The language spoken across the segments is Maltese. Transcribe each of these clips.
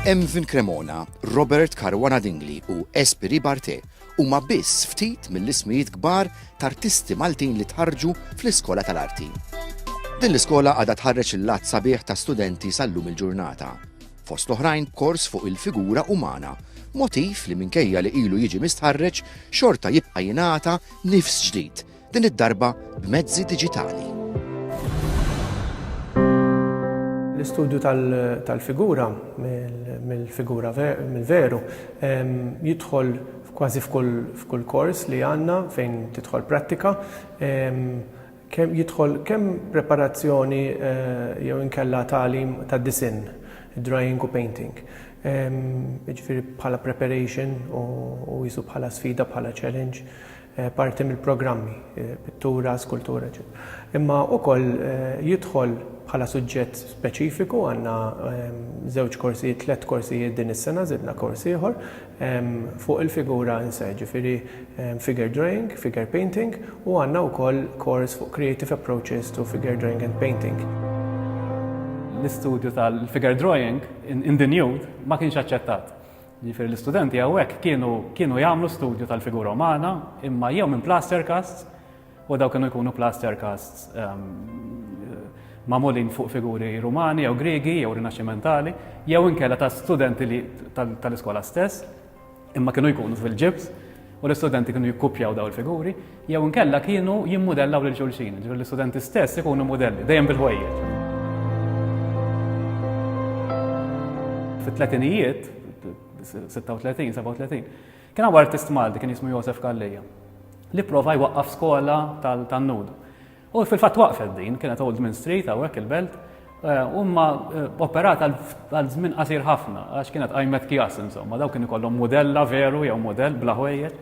Emvin Cremona, Robert Caruana Dingli u Espiri Barte huma biss ftit mill-ismijiet kbar t'artisti Maltin li tħarġu fl-Iskola tal-Arti. Din l-iskola għadha tħarreġ il-lat sabiħ ta' studenti sal-lum il-ġurnata. fost l-oħrajn kors fuq il-figura umana, motiv li minkejja li ilu jiġi mistħarreġ xorta jibqa' jingħata nifs ġdid, din id-darba b'mezzi diġitali. L-istudju tal-figura mill-figura mill-veru jidħol kważi f'kull kors li għandna fejn tidħol prattika. Kemm jidħol kemm preparazzjoni jew inkella tagħlim tad-disinn, drawing u painting. Jiġifieri bħala preparation u qisu bħala sfida, bħala challenge, parti mill-programmi, pittura, skultura, eċċetera. Imma wkoll jidħol bħala suġġett speċifiku, għandna żewġ korsijiet, tliet korsijiet din is-sena, żidna kors ieħor, fuq il-figura in se, ġifieri figure drawing, figure painting u għandna wkoll kors fuq creative approaches to figure drawing and painting. L-istudju tal-figure drawing in the nude ma kienx aċċettat. Ġifieri l-istudenti hawnhekk kienu kienu jagħmlu studju tal-figura umana imma jew minn plaster casts U dawn kienu jkunu plaster casts ehm, magħmulin fuq figuri Rumani jew Griegi jew Rinaxximentali jew inkella ta' studenti tal-iskola stess imma kienu jkunu fil-ġibs u l-istudenti kienu jikkupjaw daw il-figuri, jew nkella kienu jimmudellaw lil xulxin, ġifier l-istudenti stess ikunu modelli, dejjem bil-ħwejjeġ. Fit-tletinijiet, 36, 37, Kien hawn artist Malti kien jismu Josef Calleja li pprova jwaqqaf skola tan-nud. U fil-fatt waqfet din, kienet Old Min Street hawnhekk il-belt, eh, u ma eh, operat għal żmien qasir ħafna għax kienet qajmet kjas insomma, daw kien ikollhom mudella veru jew mudell bla ħwejjeġ.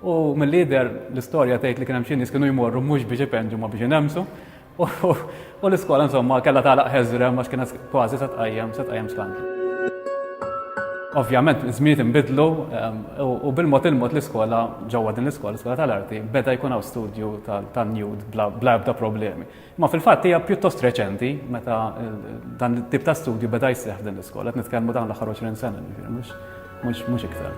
U mill-lider l-istorja tgħid li kien hemm xi nies kienu jmorru mhux biex ipenġu ma biex inemsu. U l-iskola insomma kellha tagħlaq ħeżrem għax kienet kważi se tqajjem se tqajjem skandlu. Ovvjament, żmiet inbidlu ehm, u bil-mod il-mod l-iskola ġewwa din l-iskola, l-iskola tal-arti, beda jkun hawn studju tan-nude bla ebda problemi. Ma fil-fatt hija pjuttost reċenti meta dan it-tip ta' studju beda jseħħ din l-iskola, qed nitkellmu dawn l-aħħar 20 sena, mhux Mhux, mhux iktar.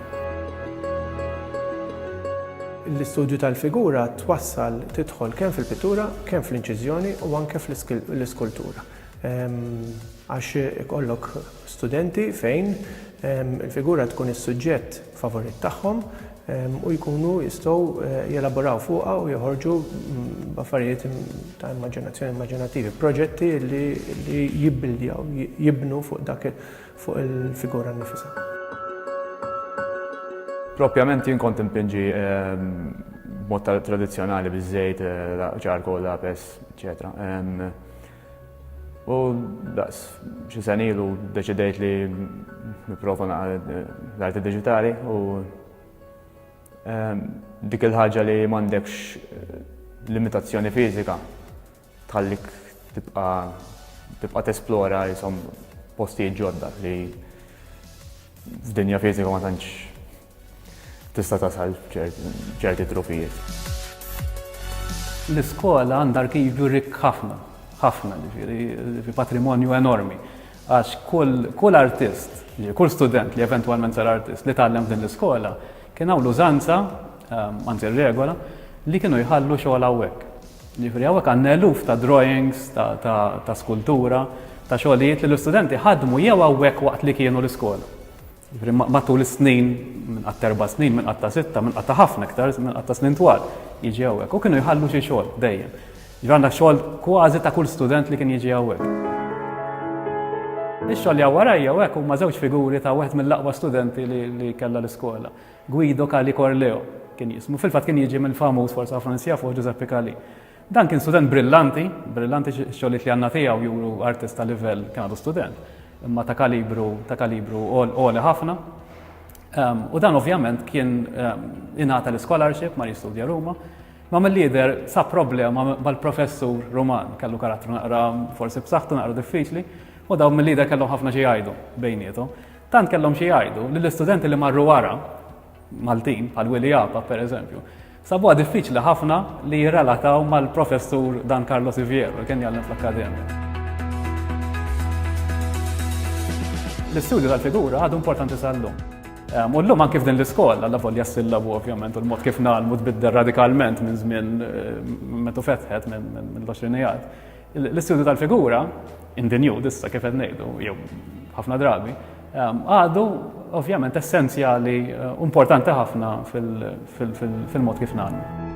L-istudju tal-figura twassal tidħol kemm fil-pittura, kemm fl-inċiżjoni u anke fl-iskultura. Għax ikollok studenti fejn il-figura tkun is-suġġett favorit tagħhom u jkunu jistgħu eh, jelaboraw fuqha u joħorġu mm, affarijiet ta' immaġinazzjoni immaġinattivi, proġetti li jibbildjaw, jibnu fuq dak fuq il-figura nnifisha. Propjament jien kont impinġi ehm, b'mod tradizzjonali biż-żejt, eh, ċarko, lapes, eċetera. Ehm, u daqs xi sen ilu deċidejt li nipprova eh, l-arti diġitali u ehm, dik il-ħaġa li m'għandekx eh, limitazzjoni fiżika Tħallik tibqa' tibqa' tesplora jisom postijiet ġodda li f'dinja fiżika ma tantx tista' tasal ċerti trufijiet. L-iskola għandha arkivju rikk ħafna, ħafna ġifieri patrimonju enormi. Għax kull artist, kull student li eventwalment sar artist li tgħallem f'din l-iskola kien hawn l-użanza, ehm, anzi r-regola, li kienu jħallu xogħol hawnhekk. Jiġifieri hawnhekk għandna eluf ta' drawings, ta' skultura, ta' xogħlijiet li l-istudenti ħadmu jew hawnhekk waqt li kienu l-iskola. Jiġifieri matul is-snin, minn qatt erba' snin, minn qatt ta' sitta, minn qatt ta' ħafna iktar, minn qatt ta' snin twal, jiġi hawnhekk. U kienu jħallu xi xogħol dejjem. Jiġifieri għandna xogħol kważi ta' kull student li kien jiġi hawnhekk. Ix-xogħol li hawn warajja hawnhekk huma żewġ figuri ta' wieħed mill-aqwa studenti li kellha l-iskola. Guido Cali Corleo kien jismu. Fil-fatt kien jiġi mill-famuż, forsi ħafna nies jafuh, Ġużeppi Cali. Dan kien student brillanti, brillanti x-xogħlijiet li għandna tiegħu juru artist ta' livell kien għadu student, imma ta' kalibru ta' kalibru għoli ħafna. Ehm, u dan ovvjament kien ehm, ingħata l-scholarship ma jistudja Ruma, Ma mill-lider sa problema mal-professur Roman, kellu karattru naqra forsi b'saħħtu naqra diffiċli, u dawn mill-lider kellhom ħafna xi jgħidu bejnietu. Tant kellhom xi jgħidu li l-istudenti li marru wara, Maltin, bħal Willy Japa per eżempju, sabuha diffiċli ħafna li jirrelataw mal-professur Dan Carlo Siviero li kien jgħallem fl-akkademja. L-istudju tal-figura għadu importanti sal-lum. Ehm, u l-lum anki f'din l-iskola, la volja s-sillabu ovvjament, u l-mod kif nagħlmu tbiddel radikalment minn żmien eh, metu fetħet minn l-20 L-istudju tal-figura, in the new, dissa kif qed ngħidu, jew ħafna drabi, ehm, għadu ovvjament essenzjali eh, importanti ħafna fil-mod kif nagħmlu.